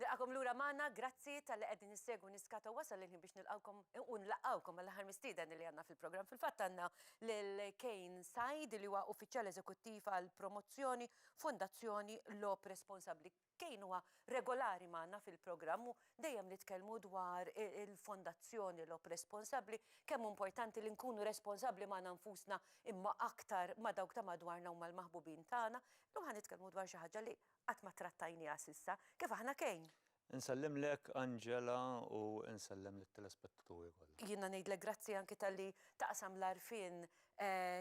Nilqagħkom lura magħna, grazzi talli qegħdin issegwu Niskata wasal il-ħin biex nilqgħukom u nlaqqgħukom mal-aħħar mistieden li għandna fil-programm. Fil-fatt għandna lil Kane Said li huwa Uffiċjal Eżekuttiv għall-Promozzjoni, Fondazzjoni Logħob Responsabbli. Kane huwa regolari magħna fil-programm u dejjem nitkellmu dwar il-Fondazzjoni Logħob Responsabbli, kemm hu importanti li nkunu responsabbli magħna nfusna imma aktar ma' dawk ta' madwarna u mal-maħbubin tagħna. Illum ħa nitkellmu dwar xi ħaġa li Qatt ma ttrattajniha s'issa kif aħna kejn. Insellimlek Angela u nsellem lit-telespettaturi kollha. Jiena ngħidlek grazzi anki talli taqsam l-għarfien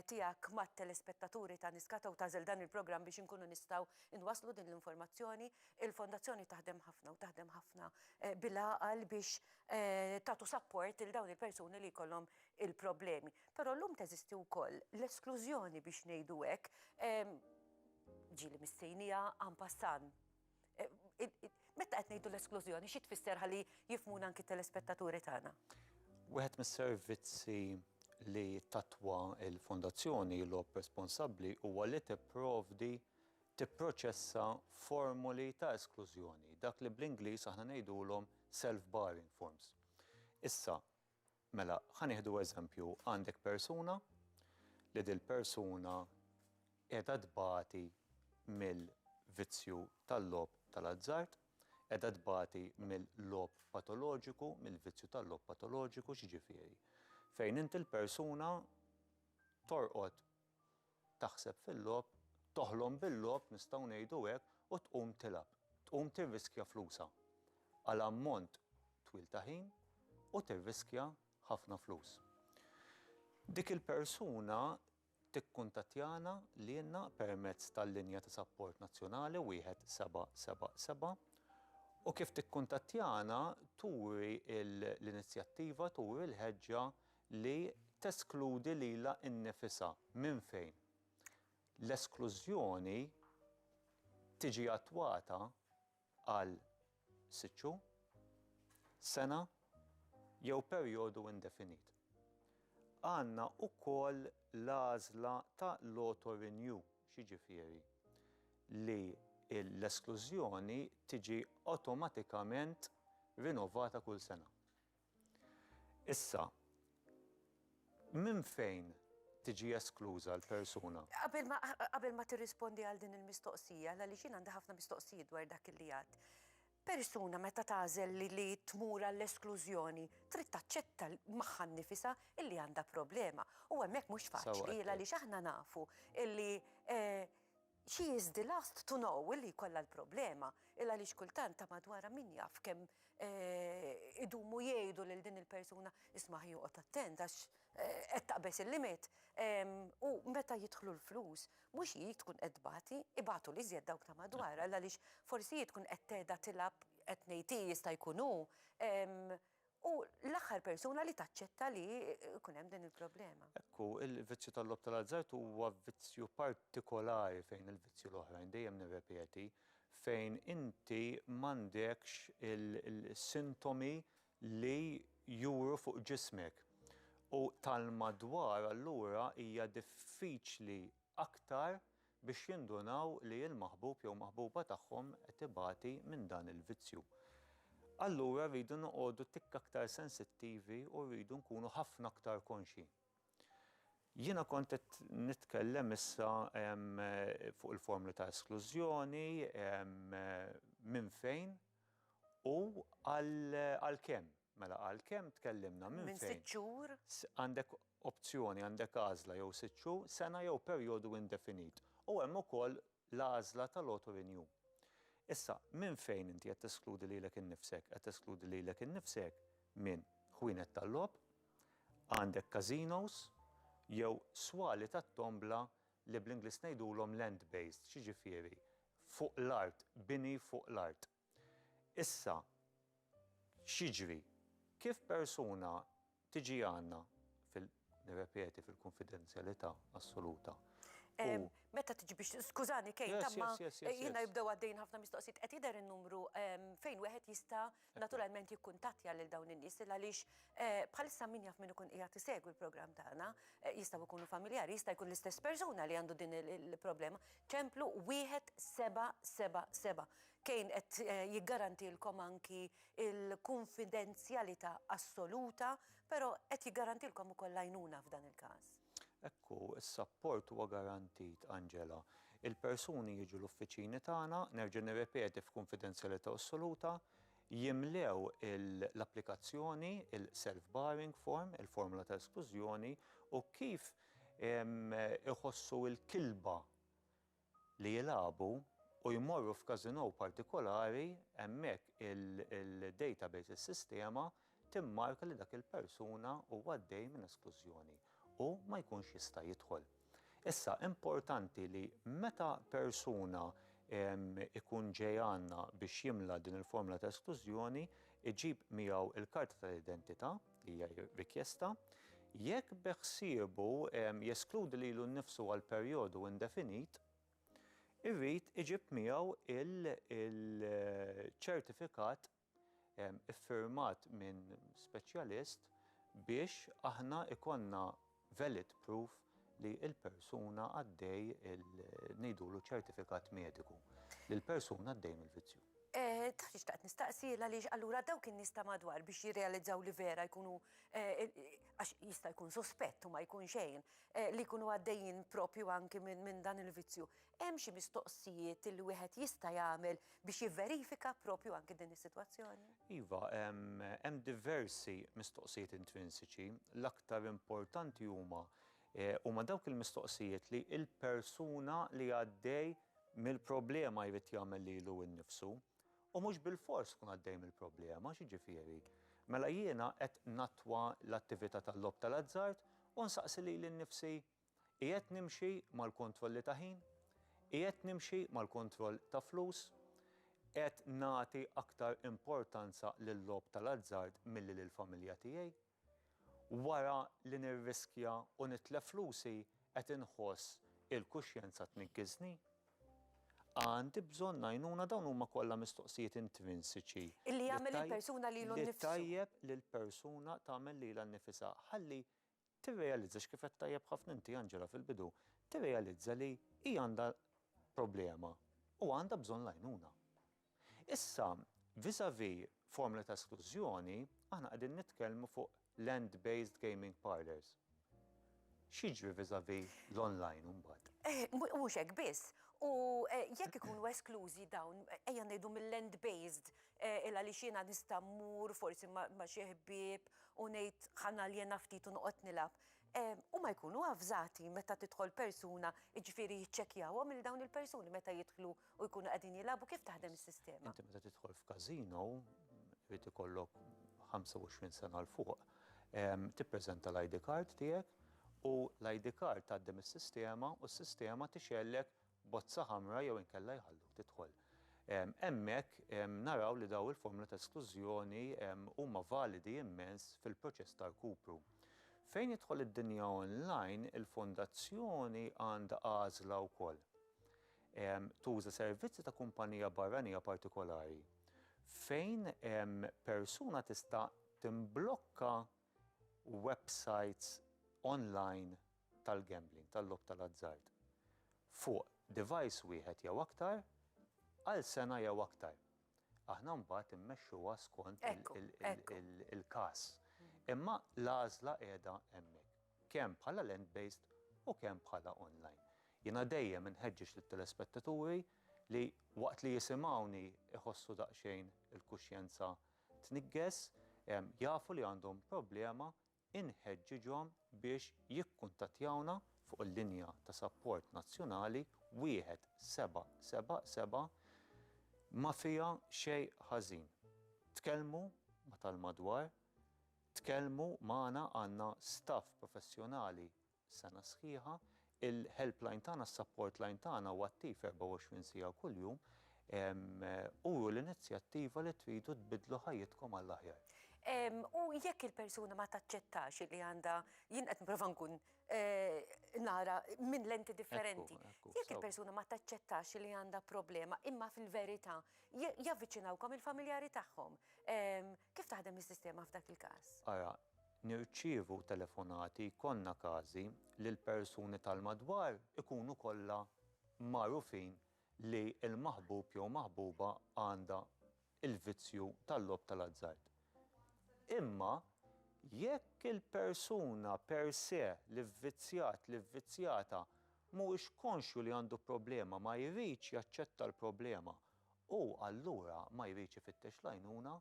tiegħek mat-telespettaturi ta' Niskata u tagħżel dan il-programm biex inkunu nistgħu nwasslu din l-informazzjoni. Il-Fondazzjoni taħdem ħafna u taħdem ħafna bil-għaqal biex tagħtu sapport lil dawn il-persuni li jkollhom il-problemi. Però llum teżisti wkoll l-esklużjoni biex ngħidu hekk. Ġieli mistejnija en passant. Meta qed ngħidu l-esklużjoni, xi tfisser ħalli jifhmuna anki t-telespettaturi tagħna? Wieħed mis-servizzi li tatwa l-Fondazzjoni Ilob responsabbli huwa li tipprovdi, tipproċessa formoli ta' esklużjoni, dak li bl-Ingliż aħna ngħidulhom self-barring forms. Issa, Mela, ħa nieħdu eżempju, għandek persuna li dil-persuna qiegħda tbati mill-vizzju tal-logħob tal-azzard, qiegħda tbati mill-logħob patoloġiku, mill-vizzju tal-logħob patoloġiku, x'jiġifieri? Fejn inti l-persuna torqod taħseb fil-logħob, toħlom bil-logħob nistgħu ngħidu hekk u tqum tilgħab, tqum tirriskja flusha għal ammont twil ta' ħin u tirriskja ħafna flus. Dik il-persuna tikkuntattjana lilna permezz tal-linja ta' sapport nazzjonali wieħed seba' seba' seba' u kif tikkuntattjana turi l-inizjattiva, turi l-ħeġġa li teskludi lilha nnifisha minn fejn l-esklużjoni tiġi attwata għal sitt xhur, sena jew perjodu indefinit. Għandna wkoll l-għażla ta' l-auto-renew, x'jiġifieri li l-esklużjoni tiġi awtomatikament rinovata kull sena. Issa, minn fejn tiġi eskluża l-persuna? Qabel ma, qabel ma tirrispondi għal din il-mistoqsija, għaliex jien għandi ħafna mistoqsijiet dwar dak illi għidt, persuna meta tagħżel li, li tmur għall-esklużjoni trid taċċetta magħha nnifisha illi għandha problema. U hemmhekk mhux faċli, għaliex aħna nafu illi, She is the last to know li jkollha l-problema, il-għaliex kultant ta' madwarha min jaf kemm idumu jgħidu lil din il-persuna, isma' aħjar oqgħod attent għax qed taqbeż il-limit. U meta jidħlu l-flus, mhux hi tkun qed tbati, ibatu l-iżjed dawk ta' madwarha, l-għaliex forsi hi tkun qed tgħidha tilgħab, qed ngħid hi jista' jkun hu, Hu l-aħħar persuna li taċċetta li jkun hemm din il-problema. Hekk hu, il-vizzju tal-logħob tal-azzard huwa vizzju partikolari fejn il-vizzji l-oħrajn, dejjem nirrepeti, fejn inti m'għandekx il-sintomi li juru fuq ġismek. U tal-madwar allura hija diffiċli aktar biex jindunaw li l-maħbub jew maħbuba tagħhom qed ibati minn dan il-vizzju. Allura rridu noqogħdu tikk aktar sensittivi u rridu nkunu ħafna aktar konxji. Jiena kont qed nitkellem issa fuq il-formi ta' esklużjoni, minn fejn u għalkemm. Mela għalkemm tkellimna minn fejn? Minn sitt xhur. Għandek opzjoni, għandek għażla jew sitt xhur, sena jew perjodu indefinit. U hemm ukoll l-għażla tal-auto renew. Issa, minn fejn inti qed teskludi lilek innifsek? Qed teskludi lilek innifsek minn ħwienet tal-logħob, għandek casinos, jew swali tat-tombla li bl-Ingliż ngħidulhom land-based, x'jiġifieri fuq l-art, bini fuq l-art. Issa, x'jiġri? Kif persuna tiġi għandna, nirrepeti, fil-kunfidenzjalità assoluta u. Meta tiġi biex, skużani Kate, imma jiena jibdew għaddejjin ħafna mistoqsijiet, qed jidher in-numru fejn wieħed jista' naturalment jikkuntattja lil dawn in-nies għaliex bħalissa min jaf min ikun qiegħed isegwi l-programm tagħna jistgħu jkunu familjari, jista' jkun l-istess persuna li għandu din il-problema. Templu 1777. Kane qed jiggarantilkom anki l-kunfidenzjalità assoluta, però qed jiggarantilkom ukoll l-għajnuna f'dan il-każ. Hekk hu, is-sapport huwa garantit, Angela. Il-persuni jiġu l-uffiċini tagħna, nerġa' nirrepeti f'kunfidenzjalità assoluta, jimlew l-applikazzjoni, il-self-barring form, il-formola ta' esklużjoni, u kif iħossu l-kilba li jilagħbu u jmorru f'casino partikolari hemmhekk il-database, is-sistema, timmarka li dak il-persuna huwa għaddej minn esklużjoni u ma jkunx jista' jidħol. Issa, importanti li meta persuna jkun ġej għandna biex jimla din il-formula ta' esklużjoni, iġib miegħu l-karta tal-identità, hija rikjesta, jekk beħsiebu jeskludi lilu nnifsu għal perjodu indefinit, irid iġib miegħu il-ċertifikat iffirmat minn speċjalist biex aħna jkollna valid proof li l-persuna għaddej il ngħidulu ċertifikat mediku li l-persuna għaddej mill-vizzju. Taf xi xtaqt nistaqsi, għaliex allura dawk in-nies ta' madwar biex jirrealizzaw li vera jkunu għax jista' jkun suspett u ma jkun xejn li jkunu għaddejjin propju anki minn dan il-vizzju, Hemm xi mistoqsijiet li wieħed jista' jagħmel biex jivverifika proprju anki din is-sitwazzjoni? Iva, hemm diversi mistoqsijiet intrinsiċi. L-aktar importanti huma huma dawk il-mistoqsijiet li l-persuna li għaddej mill-problema jrid jagħmel lilu nnifsu. U mhux bilfors tkun għaddej mill-problema, x'jiġifieri? Mela jiena qed nattwa l-attività tal-logħob tal-azzard u nsaqsi lili nnifsi Qiegħed nimxi mal-kontrolli ta' ħin? Qiegħed nimxi mal-kontroll ta' flus? Qed nagħti aktar importanza lil-logħob tal-azzard milli lill-familja tiegħi? Wara li nirriskja u nitlef flusi qed inħoss il-kuxjenza tniggiżni? Għandi bżonn għajnuna? Dawn huma kollha mistoqsijiet intrinsiċi li t-tajjeb lill-persuna tagħmel lilha nnifisha ħalli tirrealizza x'kif għedt tajjeb ħafna inti Angela fil-bidu, tirrealizza li hi għandha problema u għandha bżonn l-għajnuna. Issa, vis-à-vis formoli ta' esklużjoni, aħna qegħdin nitkellmu fuq land-based gaming parlours. X'jiġri vis-à-vis l-online imbagħad? Eh, mhux hekk biss. U eh, jekk ikunu esklużi dawn, ejja ngħidu mill-land-based Illa għaliex jiena nista' mmur forsi ma' xi ħbieb u ngħid ħa naljena ftit u noqgħod nilgħab. Huma jkunu avżati meta tidħol persuna, jiġifieri jiċċekkjawhom lil dawn il-persuni meta jidħlu u jkunu qegħdin jilgħabu, kif taħdem is-sistema? Inti meta tidħol f'każino, irid ikollok 25 sena 'l fuq, tippreżenta l-ID card tiegħek u l-ID card tgħaddi mis-sistema u s-sistema tixgħellek bozza ħamra jew inkella jħalluk tidħol. Hemmhekk naraw li dawn il-formula ta' esklużjoni huma validi immens fil-proċess ta' rkupru. Fejn jidħol id-dinja online, il-Fondazzjoni għandha għażla wkoll. Tuża servizzi ta' kumpanija barranija partikolari fejn persuna tista' timblokka u websajts online tal-gambling, tal-logħob tal-azzard, fuq device wieħed jew aktar għal sena jew aktar. Aħna mbagħad immexxuha skont il-każ. Imma l-għażla qiegħda hemmhekk, kemm bħala land-based u kemm bħala online. Jiena dejjem inħeġġeġ lit-telespettaturi li waqt li jisimgħuni jħossu daqsxejn il-kuxjenza tniġġes, jafu li għandhom problema, inħeġġiġhom biex jikkuntattjawna fuq il-linja ta' sapport nazzjonali 1777 ma fiha xejn ħażin. Tkellmu ma' tal-madwar, tkellmu magħna għandna staff professjonali sena sħiħa. Il-helpline tagħna, is-support line tagħna huwa attiv 24 siegħa kuljum. Uru l-inizjattiva li tridu tbiddlu ħajjitkom għall-aħjar. U jekk il-persuna ma taċċettax li għandha, jien qed nipprova nkun nara minn lenti differenti, jekk il-persuna ma taċċettax li għandha problema imma fil-verità javviċinawkom il-familjari tagħhom, Kif taħdem is-sistema f'dak il-każ? Ara, nirċievu telefonati, jkollna każi li l-persuni tal-madwar ikunu kollha magħrufin li l-maħbub jew maħbuba għandha l-vizzju tal-logħob tal-azzard. Imma jekk il-persuna per se, l-ivvizzjat, l-ivvizzjata, mhuwiex konxju li għandu problema, ma jridx jaċċetta l-problema Hu allura ma jridx ifittex l-għajnuna,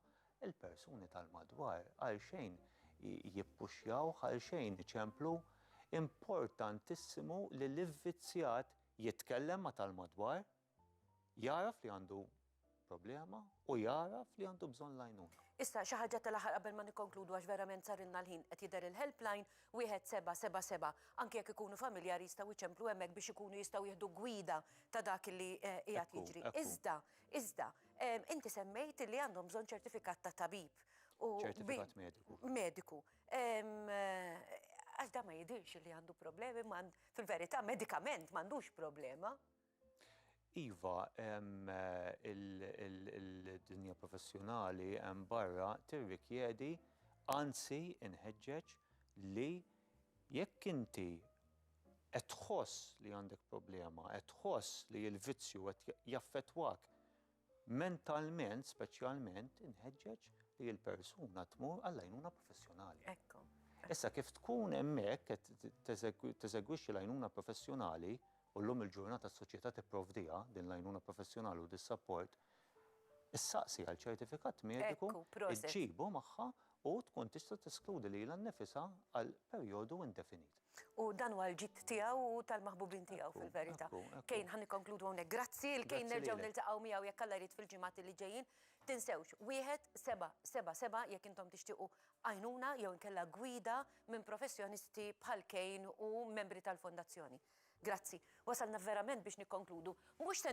il-persuni tal-madwar għalxejn jippuxjawh, għalxejn iċemplu. Importantissimu li l-ivvizzjat jitkellem ma' tal-madwar, jagħraf li għandu problema u jagħraf li għandu bżonn l-għajnuna. Issa, xi ħaġa tal-aħħar qabel ma nikkonkludu għax verament sarilna l-ħin, qed jidher il-helpline, Wieħed seba' seba' seba', Anke jekk ikunu familjari jistgħu jċemplu hemmhekk biex ikunu jistgħu jieħdu gwida ta' dak li qiegħed jiġri. Iżda, iżda, inti semmejt li għandhom bżonn ċertifikat ta' tabib u. Ċertifikat mediku. Mediku. Għax dan ma jidhirx li għandu problemi, fil-verità medikament m'għandux problema. Iva, il-dinja professjonali hemm barra tirrikjedi, anzi inħeġġeġ li jekk inti qed tħoss li għandek problema, qed tħoss li l-vizzju qed jaffettwak Mentalment, speċjalment, inħeġġeġ li l-persuna tmur għall-għajnuna professjonali. Ekku. Issa kif tkun hemmhekk qed teżegwixxi l-għajnuna professjonali u llum il-ġurnata s-soċjetà tipprovdiha din l-għajnuna professjonali u dis-sapport, issaqsi għal ċertifikat mediku, iġġibu magħha u tkun tista' teskludi lilha nnifisha għal perjodu indefinit. U dan huwa l-ġid tiegħu u tal-maħbubin tiegħu fil-verità. Kejn, ħa nikkonkludu hawnhekk. Grazzi, il-Kejn nerġgħu niltaqgħu miegħu jekk Alla jrid fil-ġimgħat li ġejjin. Tinsewx, wieħed, seba', seba' seba' jekk intom tixtiequ għajnuna jew inkella gwida minn professjonisti bħal Kejn u membri tal-Fondazzjoni. Grazzi. Wasalna verament biex nikkonkludu. Mhux se